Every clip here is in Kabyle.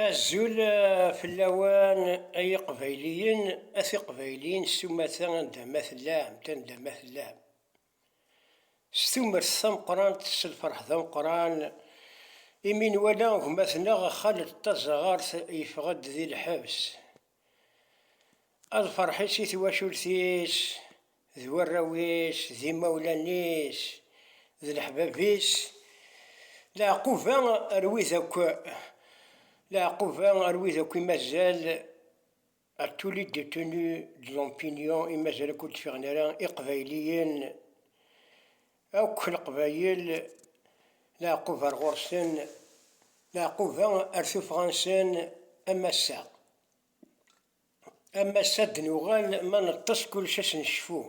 Azul fell-awen ay iqbayliyen, a tiqbayliyin s umata anda ma tellam, anda ma tellam. S tumert tameqqrant, s lferḥ d ameqqran imi nwala gma-tneɣ Xaled Taẓɣart yeffeɣ-d di lḥebs. Ad ferḥ-is i twacult-is, d warraw-is, d imawlan-is, d leḥbab-is, leɛquba ar wid akk, leɛquba ar wid akk i mazal, à tous les détenus de l'Ompinion, i mazal akk ur d-fiɣen ara, Iqbayliyen, Akk leqbayel leɛqub ar ɣur-sen, leɛquba ar tuffɣa-nsen am ass-a. Am ass-a ad d-nuɣal ma neṭṭes kullec ad s-necfu,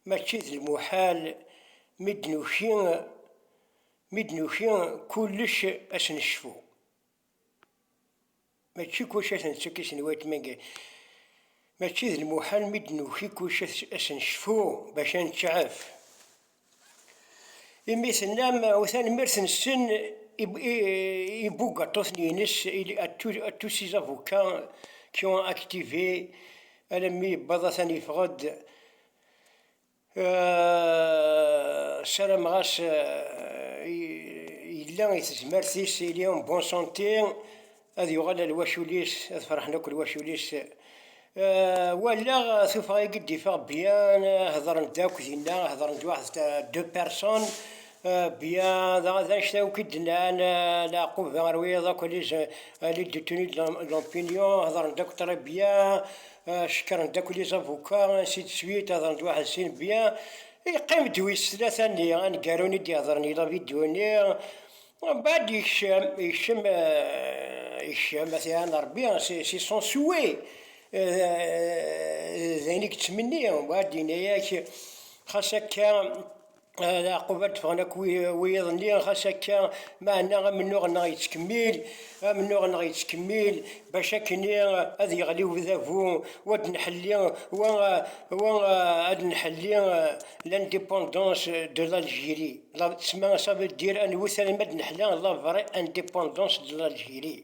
mačči d lmuḥal mi d-nuki mi d-nuki kullec ad s-necfu. Mačči kullec ad t-nettakis n weltma n Gari. Mačči d lmuḥal mi d-nuki kullec ad as-necfu bac ad neţɛef. Imi tennam u tanemmirt nessen i ibugaṭuten-ines à tous ces avocats qui ont activé alammi yewweḍ atan yeffeɣ-ed. Sarameɣ-as yella i tezmert-is il est en bonne santé ad yuɣal ar lwacul-is ad ferḥen akk lwacul-is walaɣ tuffɣa agi d-iffeɣ bien hedren-d akk dinna hedren-d wahed deux personnes bien daɣen d annect-a akk i d-nnan Laɛquba ar wiyaḍ akk à l'aide de tenue de l'opinion hedren-d akk très bien Cekkeṛ n Dakuli Zabuka, ainsi de suite, hedren-d waḥed sin bien, yeqqim-d wis tlata-nni, aneggaru-nni i d-ihedren yella vidéo-nni, mbeɛd yekcem, yekcem, yekcem, a t-iɛann Ṛebbi, c'est son souhait, d ayen i yettmenni, mbeɛd yenna-ak xas akka, Yeɛqub ad d-ffɣen akk wiyaḍ-nni, ɣas akka meɛna amennuɣ-nneɣ yettkemmil, amennuɣ-nneɣ yettkemmil, bac akkenni ad yeɣli udabu, wa ad nḥelli, wa, wa ad nḥelli l'indépendance de l'Algérie, la, ça veut dire, anwet alma d-neḥla la vraie indépendance de l'Algérie.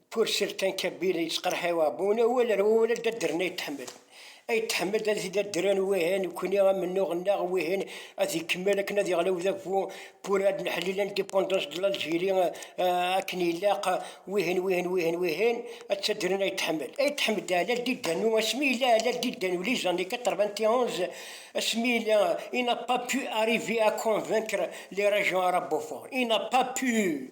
Purcell kan Kabila yettqerḥi Abuna u wala wala d addren ay tḥemmel. Ay tḥemmel ad t-id addren wihin nekkni amennuɣ-nneɣ wihin ad ikemmel akken ad yeɣli udabu pour ad neḥli l'indépendance de l'Algérie akken ilaq wihin wihin wihin wihin ad tt-addren ay tḥemmel. Ay tḥemmel d Alal Didanu asmi yella Alal Didanu les années 91 asmi yella il n'a pas pu arriver à convaincre les régions arabophones il n'a pas pu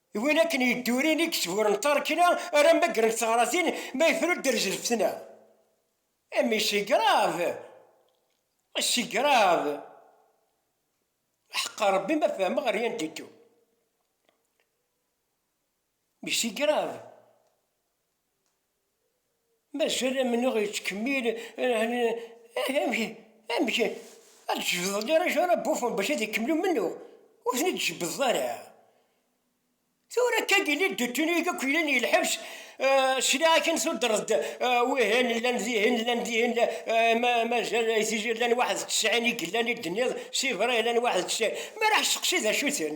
D win akken yeddurin i yesburen tarekna ara mmagren teɣratin ma yefra ur d-terzi lfetna. Imi c'est grave! C'est grave! Aḥeqqa Rebbi ma fehmeɣ rien du tout. Mais c'est grave! Mazal amennuɣ yettkemmil, amek ad d-tjebdeḍ arrac ara bufen bac ad ikemmel umennuɣ, ur ten id tjebdeḍ ara, tura akka yelli d tuttin i yakk yellan di lḥebs, sliɣ akken tuddreḍ-d wihin llan dihin llan dihin mazal di tizi llan waḥed d tesɛin i yellan i d-tenniḍ, sibra llan waḥed d tesɛin, mi ara ḥesteqsi d acu-ten?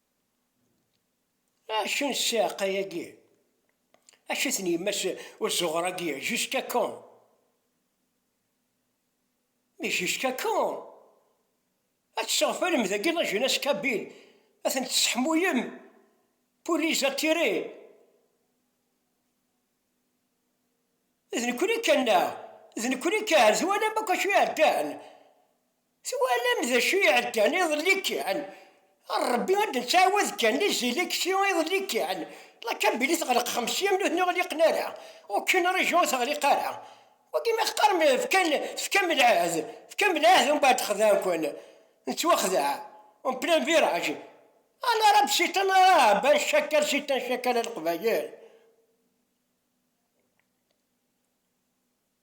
Acu n ssiɛqa-agi? Acu i ten-yemma-s uzuɣer-agi jusqu'à quand? Mais jusqu'à quand? Ad tesseɣfalem dagi la jeunesse kabyle, ad ten-tesseḥmuyem pour les attirer? D nekkni kan neɣ? D nekkni kan? Twalam akk acu iɛeddan? Twalam d acu iɛeddan iḍelli kan? Rebbi ad d-nettɛawad kan di Ziliksi iḍelli kan, la Kabili teɣleq xemsi am nutni ur ɣliqen ara, okun rejion ur teɣliq ara. Wagi ma teqqarem fkan, tefkam lɛehd, tefkam lɛehd umbeɛd xedɛen-ken, nettwaxdeɛ, on plein virage, a l'arabe c'est un arabe, un chacal c'est un chacal a Leqbayel.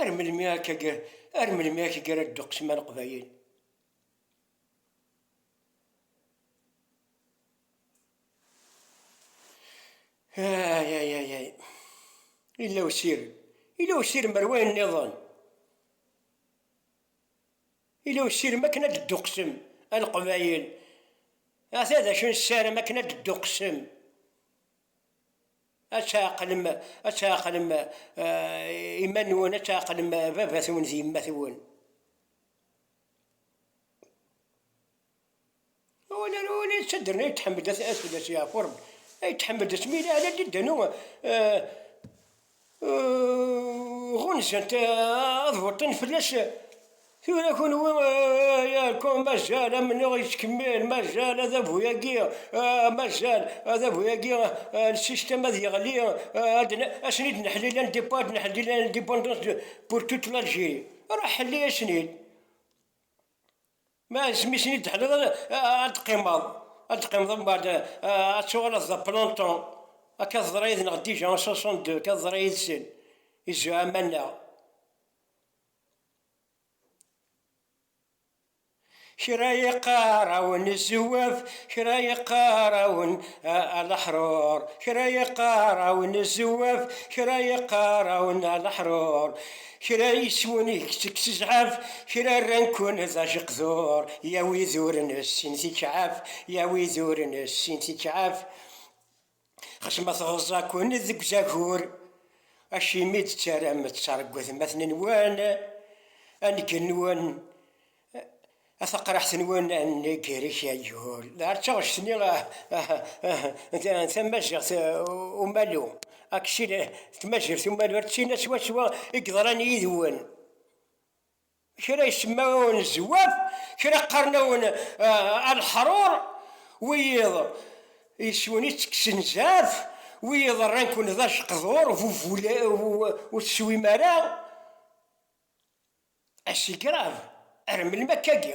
Ar melmi akka ar melmi akka gar a ddeqs ma leqbayel? Ayayayay yella usirem yella usirem ar wayen nniḍen yella usirem akken ad ddeqsem a leqbayel ata d acu nessaram akken ad ddeqsem Ad tɛeqlem, ad tɛeqlem iman-nwen, ad tɛeqlem baba-twen d yemma-twen. Win ara win yettadren ay tḥemmel ad tbedd ad yeɛfu Rebbi, ay tḥemmel asmi yella ala didanu ɣunzant ad beṭṭin fell-as Tura kunwi yerkum mazal amennuɣ yettkemmil, mazal adabu-agi, mazal adabu-agi n système ad yeɣli, ad sen-id neḥlil un départ ad neḥlil un indépendance pour toute l'Algérie. Ruḥ ḥelli-yasen-id. Ma asmi i sen-id teḥliḍ ad d-teqqimeḍ, ad d-teqqimeḍ umbeɛd ad tuɣaleḍ d aplanton. Akka teḍra yid-neɣ déjà en 62, akka teḍra yid-sen, izzuɛama-nneɣ. Kra yeqqar-awen zewwaf, kra yeqqar-awen alaḥrur, kra yeqqar-awen zewwaf, kra yeqqar-awen alaḥrur, kra yeswen deg tezɛaf, kra rran-ken d ajeqdur, ya wid ur nessin tikeɛɛaf, ya wid ur nessin tikeɛɛaf. Xas ma tɣeẓẓa-ken deg uzagur, acimi i d-tettaram ad tettṛeggu atmaten-nwen ad ngen-nwen a taqraḥt-nwen ad negger i kayyul? Ar d taɣect-nni n tamaziɣt umalu, aksil, tmazirt umalu ar d tina swaswa i yeḍran yid-wen. Kra isemma-awen zzwaf, kra qqaren-awen alḥrur, wiyiḍ yes-wen i ttekksen zɛaf, wiyiḍ rran-ken d ajeqdur bu ur teswim ara. Ass igrav, ar melmi akka-agi?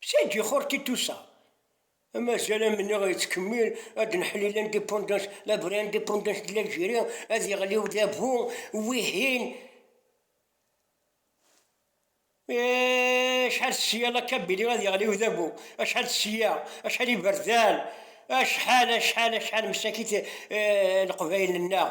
Sagi xur ki tusa. Amazal amenneɣ yettkemmil ad d-neḥli l'indépendance, la vraie indépendance de l'Algérie, ad yeɣli udabu, wihin acḥal sya la Kabylie ad yeɣli udabu, acḥal sya, acḥal iberdan, acḥal, acḥal, acḥal msakit Leqbayel-nneɣ,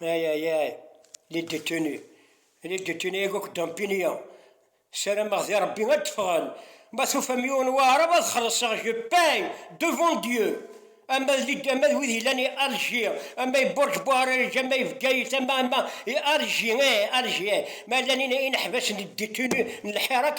Aïe, aïe, aïe, les détenus, les détenus yak akk dumpini-a, sarameɣ di Rebbi ad d-ffɣen, ma tufam yiwen waɛrab ad xelṣeɣ je paie devant Dieu, ama d les ama d wid yellan i Alger, ama i Burj Buharaj, ama i Bgayet, ama, ama i Alger, eh, Alger, ma llan ineḥbas n les détenus n lḥirak,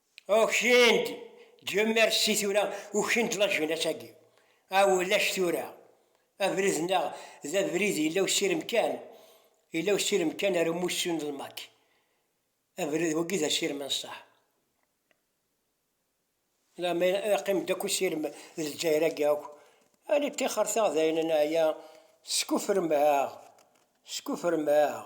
Ukin-d, Dieu merci tura ukin-d la jeunesse-agi. A ulac tura, abrid-nneɣ d abrid yella usirem kan, yella usirem kan ar umussu n lmak. Abrid wagi d asirem n ṣṣeḥ. Lama iqqim-d akk usirem d Lezzayer-agi akk, ali ṭixer-teɣ dayen neɛya, teskufrem-aɣ, teskufrem-aɣ.